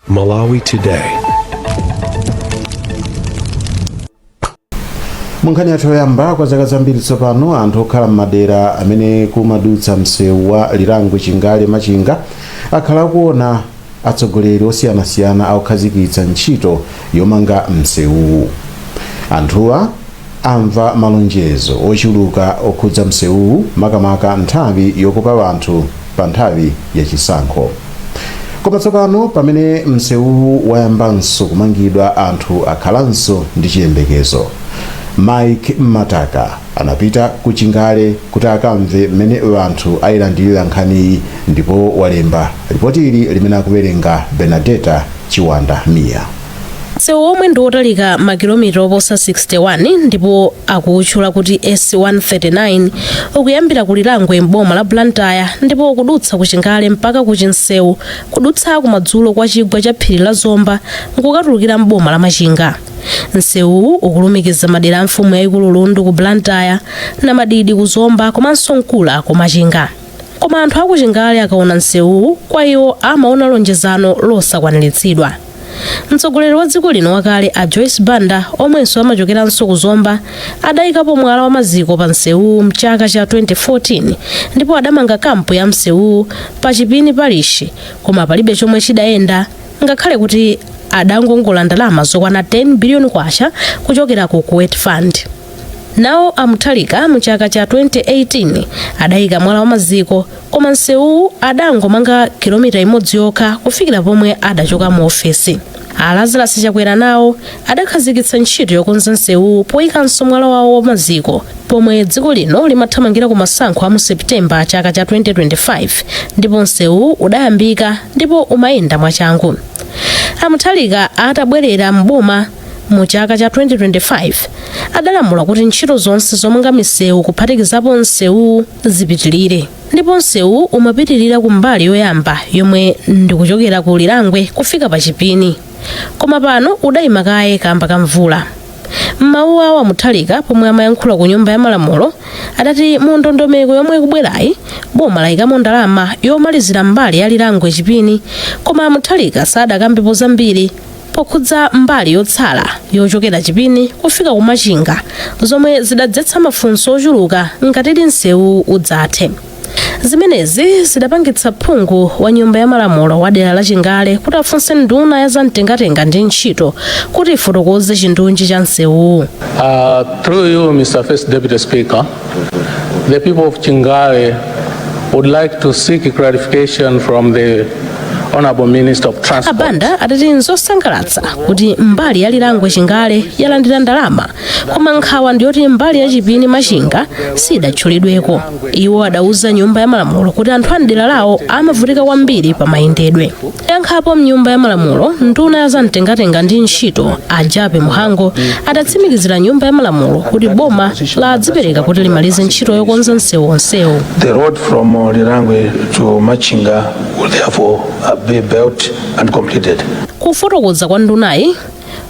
Malawi Today. munkhani yathu yoyamba kwa zaka zambiri tsopano anthu okhala m'madera amene kumadutsa msewu wa lirangwe chingale machinga akhala akuona atsogoleri osiyanasiyana akukhazikitsa ntchito yomanga msewuwu anthuwa amva malonjezo ochuluka okhudza msewuwu makamaka nthawi yokopa anthu pa nthawi ya chisankho. Koma tsopano pamene msewuwu wayambanso kumangidwa anthu akhalanso ndi chiyembekezo. Mike Mmataka anapita ku Chingale kuti akamve mmene anthu ayilandirira nkhaniyi ndipo walemba lipotili limene akuwerenga Bernadetta Chiwanda Mia. msewu omwe ndi wotalika makilomita oposa 61 ndipo akuutchula kuti s139 ukuyambira ku lirangwe m'boma la blantyre ndipo ukudutsa ku chingale mpaka ku chinseu kudutsa kumadzulo kwa chigwa cha phiri la zomba nkukatulukira m'boma la machinga msewuwu ukulumikiza madera a mfumu yayikulu lundu ku blantyre na mdidi ku zomba komanso nkula ku machinga koma anthu akuchingale akaona msewuwu kwa iwo amaona lonjezano losakwaniritsidwa mtsogoleri wa dziko lino wakale a joyce banda omwenso amachokeranso ku zomba adayikapo mwala wa maziko pa msewuwu mchaka cha 2014 ndipo adamanga kampu ya msewuwu pa chipini parish koma palibe chomwe chidayenda ngakhale kuti adangongola ndalama zokwana 10 biliyoni kwacha kuchokera ku kuwait fund Nawo a Mutharika mu chaka cha 2018 adayika mwala wa maziko koma msewuwu adangomanga kilomita imodzi yokha kufikira pomwe adachoka mu ofesi. A Lazarus Chakwera nawo adakhazikitsa ntchito yokonza msewuwu poyikanso mwala wawo wa maziko pomwe dziko lino limathamangira ku masankho a mu September chaka cha 2025 ndipo msewuwu udayambika ndipo umayenda mwachangu. A Mutharika atabwerera m'boma mu chaka cha 2025 adalamula kuti ntchito zonse zomanga misewu kuphatikizapo msewu zipitirire ndipo msewuwu umapitirira ku mbali yoyamba yomwe ndikuchokera ku lirangwe kufika pa chipini koma pano udayima kaye kamba ka mvula mmawu awo a Mutharika pomwe amayankhula ku nyumba ya malamulo adati mu ndondomeko yomwe ikubwerayi boma layikamo ndalama yomalizira mbali ya lirangwe chipini koma a Mutharika sadakambepo zambiri pokhudza mbali yotsala yochokera chipini kufika kumachinga zomwe zidadzetsa mafunso ochuluka ngatidi msewuwu udzathe zimenezi zidapangitsa phungu wa nyumba ya malamulo wa dera la chingale kuti afunse nduna ya zamtengatenga ndi ntchito kuti ifotokoze chindunji cha msewuwu Uh, through you, Mr. First Deputy Speaker, The people of Chingale would like to seek clarification from the Honorable Minister of Transport. abanda adati nzosangalatsa kuti mbali ya lirangwe chingale yalandira ndalama koma nkhawa ndiyoti mbali ya chipini machinga sidatchulidweko iwo adauza nyumba ya malamulo kuti anthu a mdera lawo amavutika kwambiri pa mayendedwe Poyankhapo m'nyumba ya malamulo, nduna ya zamtengatenga ndi ntchito a Jappie Mhango adatsimikizira nyumba ya malamulo kuti boma ladzipereka kuti limalize ntchito yokonza msewu onsewu. The road from uh, Lirangwe to Machinga will therefore uh, be built and completed. Kufotokoza kwa ndunayi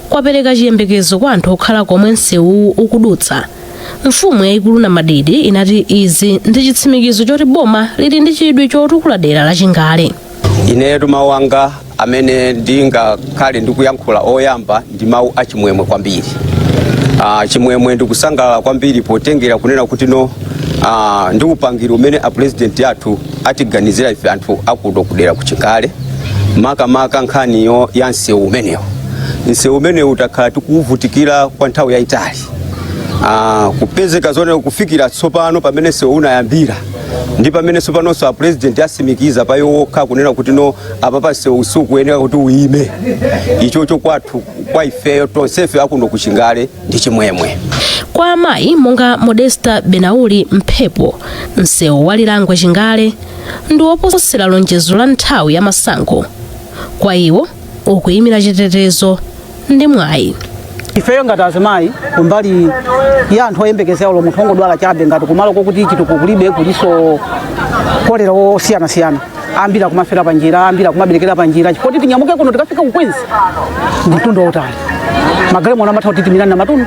kwapereka chiyembekezo kwa anthu okhala komwe msewuwu ukudutsa. Mfumu yayikulu Namadidi inati izi ndi chitsimikizo choti boma lili ndi chidwi chotukula dera la Chingale. inetu mawu anga amene ndingakhale ndikuyankhula oyamba ndi mawu achimwemwe kwambiri Ah, chimwemwe ndikusangalala kwambiri potengera kunena kuti no ah, ndi upangiri umene apurezidenti athu atiganizira ife anthu akuno kudera kuchingale makamaka nkhani ya msewu umenewu msewu umenewu takhala tikuvutikira kwa nthawi yayitali Ah, kupezeka zone kufikira tsopano pamene msewu unayambira ndi pamene tsopanonso apurezidenti atsimikiza pa iwo okha kunena kuti no apapa msewu sukuyenera kuti uyime ichocho kwathu kwa ifeyo tonsefe akuno kuchingale ndi chimwemwe kwa amayi monga modesta benauli mphepo msewu wa lirangwe chingale ndi woposera lonjezo la nthawi ya masankho kwa iwo ukuyimira chitetezo ndi mwayi ifeyo ngati azimayi kumbali ya anthu oyembekezera olo munthu ongodwala chabe ngati kumalo kokuti chitukuko kulibe kulinso kolera osiyanasiyana ambiri akumafera panjira ambiri akumaberekera panjira chifukwa kuti tinyamuke kuno tikafike kukwenzi ndi mtunda wautali magalimoto amatha kutitimira na matundu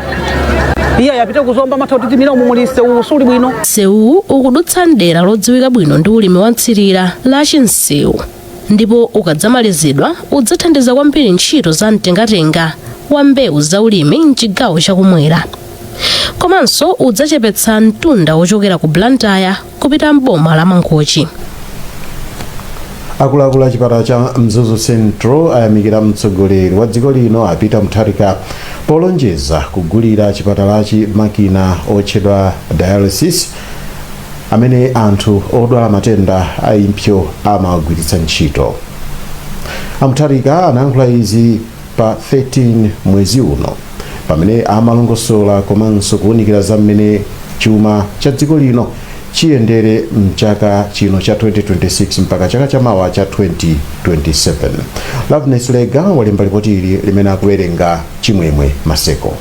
iye ayapite kuzomba amatha kutitimira umu muli msewu suli bwino msewu ukudutsa mdera lodziwika bwino ndi ulimi wa mthirira la chinsewu ndipo ukadzamalizidwa udzathandiza kwambiri ntchito za mtengatenga wa mbewu za ulimi mchigawo chakumwera komanso udzachepetsa mtunda wochokera ku blantyre kupita m'boma la mangochi akuluakulu a chipatala cha mzuzu central ayamikira mtsogoleri wa dziko lino a peter mutharika polonjeza kugulira chipatalachi makina otchedwa dialysis amene anthu odwala matenda a impsyo amawagwiritsa ntchito a mutharika anayankhula izi pa 13 mwezi uno pamene amalongosola komanso kuwunikira za mmene chuma cha dziko lino chiyendere mchaka chino cha 2026 mpaka chaka cha mawa cha 2027 loveness lega walemba lipoti ili limene akuwerenga chimwemwe maseko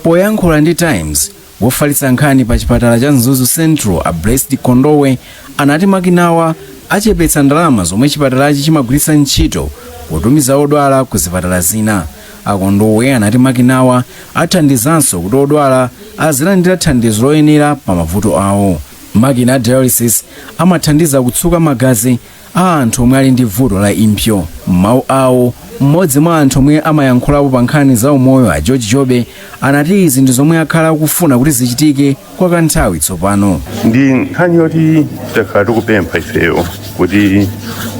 poyankhula ndi times Wofalitsa nkhani pa chipatala cha Mzuzu Central a Blessed Kondowe anati makinawa achepetsa ndalama zomwe chipatalachi chimagwiritsa ntchito potumiza odwala ku zipatala zina. A Kondowe anati makinawa athandizanso kuti odwala azilandira thandizo loyenera pa mavuto awo. Makina dialysis amathandiza kutsuka magazi a anthu omwe ali ndi vuto la impso m'mawu awo mmodzi mwa anthu omwe amayankhulapo pa nkhani za umoyo a george jobe anati izi ndi zomwe akhala akufuna kuti zichitike kwa kanthawi tsopano ndi nkhani yoti takhala tikupempha ifeyo kuti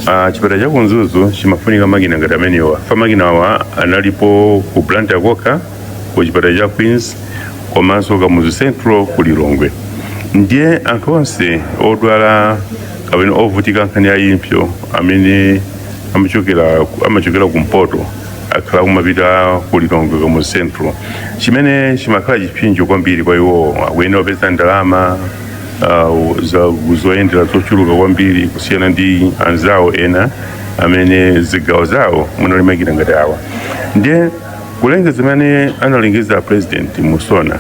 ah, chipatala cha ku Mzuzu chimafunika makina ngati amenewa pa makina awa analipo ku blantyre kokha ku chipatala cha queens komanso kamuzu central ku lilongwe ndiye anthu onse odwala kapena ovutika nkhani ya impso amene amachokera kumpoto akhala kumapita ku lilongwe kamuzu central chimene chimakhala chipsinjo kwambiri kwa iwowo akuyenera kupeza ndalama uh, za- zoyendera zochuluka kwambiri kusiyana ndi anzawo ena amene zigawo zawo munali makina ngati awa ndiye kulengeza zimene analengeza president mu SONA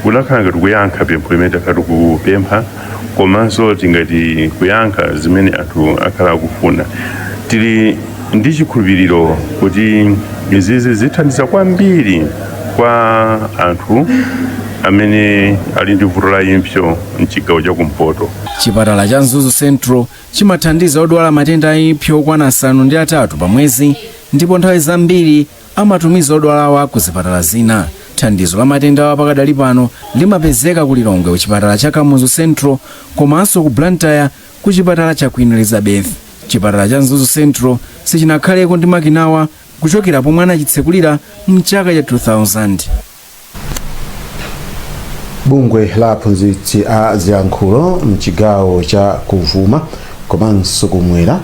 kunakhala ngati kuyankha pempho limene takhala tikupempha komanso tingati kuyankha zimene anthu akhala akufuna tili ndi chikhulupiriro kuti izizi zithandiza kwambiri kwa anthu amene ali ndi vuto la impso mchigawo cha kumpoto chipatala cha mzuzu central chimathandiza odwala matenda a impso okwana asanu ndi atatu pa mwezi ndipo nthawi zambiri amatumiza odwalawa ku zipatala zina. Thandizo la matendawa pakadali pano limapezeka ku Lilongwe ku chipatala cha Kamuzu Central komanso ku Blantyre ku chipatala cha Queen Elizabeth. Chipatala cha Mzuzu Central sichinakhaleko ndi makinawa kuchokera pomwe anachitsekulira mchaka cha 2000. bungwe la aphunzitsi a ziyankhulo mchigawo cha kuvuma komanso kumwera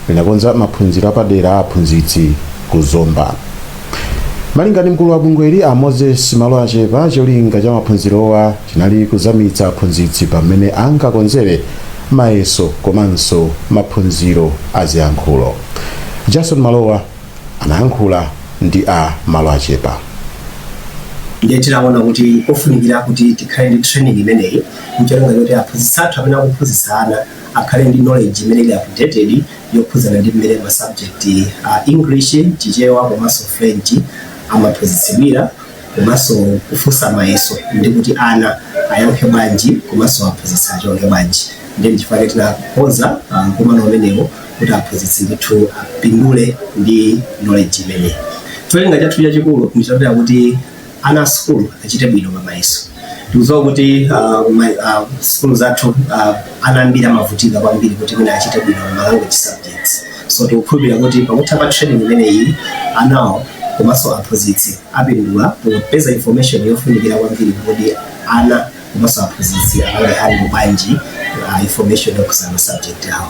linakonza maphunziro apadera a aphunzitsi ku zomba malinga ndi mkulu wa bungweli a moses maloachepa cholinga cha maphunzirowa chinali kuzamitsa aphunzitsi pamene angakonzere mayeso komanso maphunziro a ziyankhulo jason malowa anayankhula ndi a Maloachepa. Ndiye tinaona kuti kofunikira kuti tikhale ndi training imeneyi ncholinga choti aphunzitsi athu amene akuphunzitsa ana akhale ndi knowledge imene ili updated yokhudzana ndi mmene ma subject a English, Chichewa komanso French amaphunzitsidwira komanso kufunsa mayeso ndi kuti ana ayankhe bwanji komanso aphunzitsi achonge bwanji. Ndiye ndichifukwa chake tinakonza uh, mkumano umenewo kuti aphunzitsi ndithu apindule ndi knowledge imeneyi cholinga chathu chachikulu ndichoti kuti ana asukulu achite bwino pamayeso tikudziwa kuti uh, ma- uh, sukulu zathu uh, ana ambiri amavutika kwambiri kuti mwina achite bwino ma language subjects so tikukhulupirira kuti pakutha pa training imeneyi anawo komanso aphunzitsi apindula popeza information yofunikira kwambiri kuti ana komanso aphunzitsi ali bwanji uh, information yokhudza ma subject awo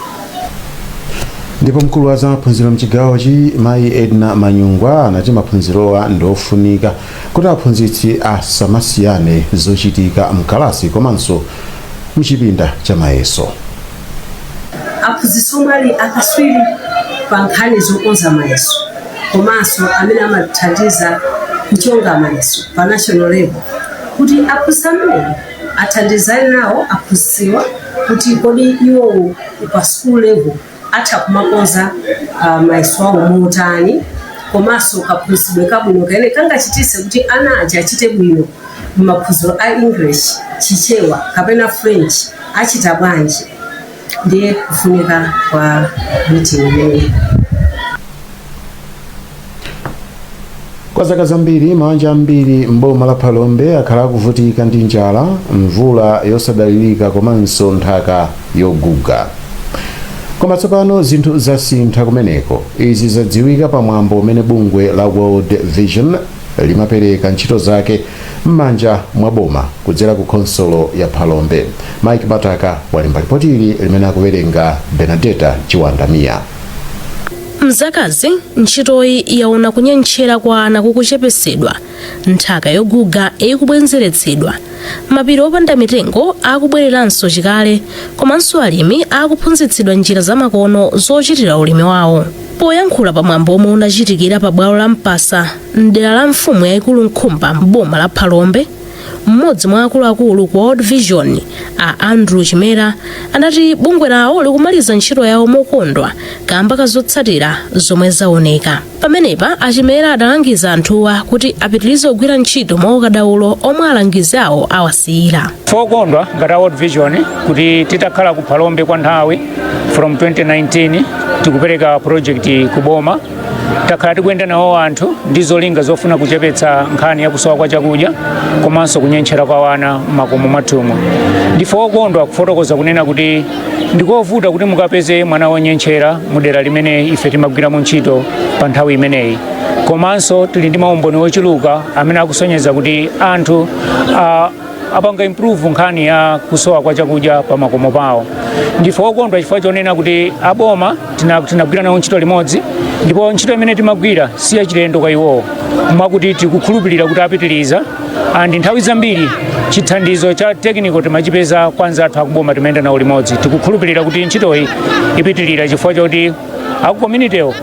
ndipo mkulu wa zamaphunziro mchigawochi mayi edna manyungwa anati maphunzirowa ndi ofunika kuti aphunzitsi asamasiyane zochita mkalasi komanso mchipinda cha mayeso aphunzitsi omwe ali akatswiri pa nkhani zokonza mayeso komanso amene amathandiza kuchonga mayeso pa national level kuti aphunzitsi amenewo athandizane nawo aphunzitsiwa kuti kodi iwowo pa school level atha kumakonza uh, mayeso awo motani komanso kaphunzitsidwe kabwino kamene kangachititse kuti ana aja achite bwino m'maphunziro a english chichewa kapena french achita bwanji Ndiye kufunika kwa meeting imeneyi. Kwa zaka zambiri mabanja ambiri m'boma la Phalombe akhala akuvutika ndi njala, mvula yosadalirika komanso nthaka yoguga. Koma tsopano zinthu zasintha kumeneko. Izi zadziwika pa mwambo umene bungwe la World Vision limapereka ntchito zake m'manja mwa boma kudzera ku khonsolo ya Phalombe. Mike Mataka walemba lipoti ili limene akuwerenga Benadeta Chiwandamia. Mzakazi ntchitoyi yaona kunyentchera kwa ana kukuchepetsedwa nthaka yoguga ikubwezeretsedwa mapiri opanda mitengo akubwereranso chikale komanso alimi akuphunzitsidwa njira zamakono zochitira ulimi wawo Poyankhula pa mwambo omwe unachitikira pa bwalo la Mpasa mdera la mfumu yayikulu Nkhumba m'boma la Phalombe, mmodzi mwa akuluakulu ku World Vision a Andrew Chimera anati bungwe lawo likumaliza ntchito yawo mokondwa kamba ka zotsatira zomwe zaoneka. Pamenepa a Chimera adalangiza anthuwa kuti apitirize kugwira ntchito mwa ukadaulo omwe alangizi awo awasiyira. Ndife okondwa ngati a World Vision kuti titakhala ku Phalombe kwa nthawi from 2019 tikupereka project ku boma takhala tikuyenda nawo anthu ndi zolinga zofuna kuchepetsa nkhani ya kusowa kwa chakudya komanso kunyentchera kwa wana m'makomo mwathumu ndife okondwa kufotokoza kunena kuti ndikovuta kuti mukapeze mwana wonyentchera mu dera limene ife timagwiramo ntchito pa nthawi imeneyi komanso tili ndi maumboni ochuluka amene akusonyeza kuti anthu ah, apanga improve nkhani ya kusowa kwa chakudya pa makomo pawo ndife okondwa chifukwa chonena kuti aboma tinagwira nawo ntchito limodzi ndipo ntchito imene timagwira si yachilendo kwa iwowo mwakuti tikukhulupirira kuti apitiriza and nthawi zambiri chithandizo cha technical timachipeza kwa anzathu akuboma timayenda nawo limodzi tikukhulupirira kuti ntchitoyi ipitirira chifukwa choti akukominitywo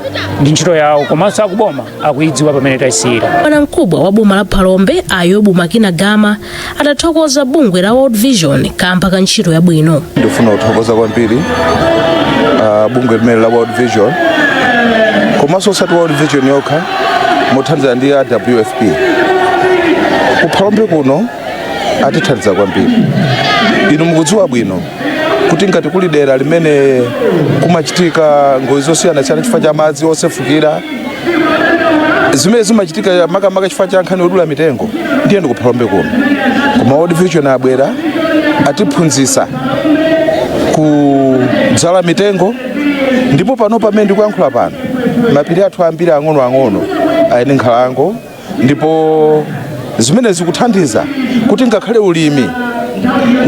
ndi ntchito yawo komanso akuboma akuidziwa pamene taisiyira bwana mkubwa wa boma la phalombe a yobu makina gama atathokoza bungwe la world vision kamba ka ntchito yabwino ndifuna kuthokoza kwambiri uh, bungwe limene la world vision komanso osati world vision yokha mothandizana ndi a wfp kuphalombe kuno atithandiza kwambiri inu mukudziwa bwino kuti ngati kuli dera limene kumachitika ngozi zosiyanasiyana chifukwa cha madzi osefukira zimene zimachitika makamaka chifukwa cha nkhani yodula mitengo ndiye ndi kuphalombe kuno koma world vision abwera atiphunzitsa kudzala mitengo ndipo pano pamene ndikuyankhula pano mapiri athu ambiri ang'onoang'ono ali ndi nkhalango ndipo zimene zikuthandiza kuti ngakhale ulimi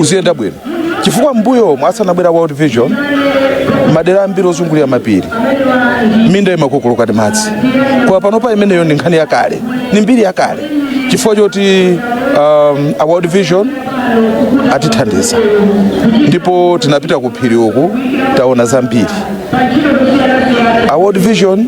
uziyenda bwino chifukwa mbuyomu asanabwere world vision madera ambiri ozungulira mapiri minda imakokoloka ndi madzi koma panopa imeneyo ndi nkhani yakale ni mbiri yakale chifukwa choti um, a world vision atithandiza ndipo tinapita ku phiri uku taona zambiri a world vision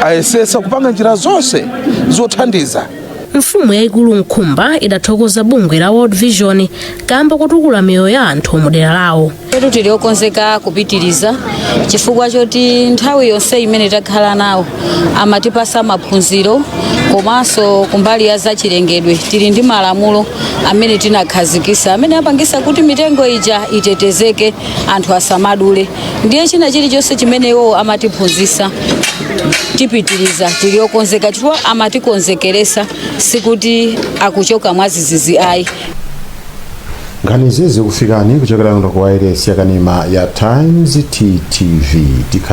ayesesa kupanga njira zonse zothandiza mfumu yayikulu nkhumba idathokoza bungwe la world vision kamba kotukula miyoyo ya anthu mu dera lawo Ifetu tili okonzeka kupitiriza chifukwa choti nthawi yonse imene takhala nawo amatipasa maphunziro komanso kumbali ya zachilengedwe tili ndi malamulo amene tinakhazikisa amene apangisa kuti mitengo ija itetezeke anthu asamadule ndiye china chilichonse chimene iwowo amatiphunzitsa tipitiriza tili okonzeka chifukwa amatikonzekeresa sikuti akuchoka mwadzidzidzi ayi nkhani izi zikufikani kuchokera kuno ku wailesi yakanema ya times ttv Tikha-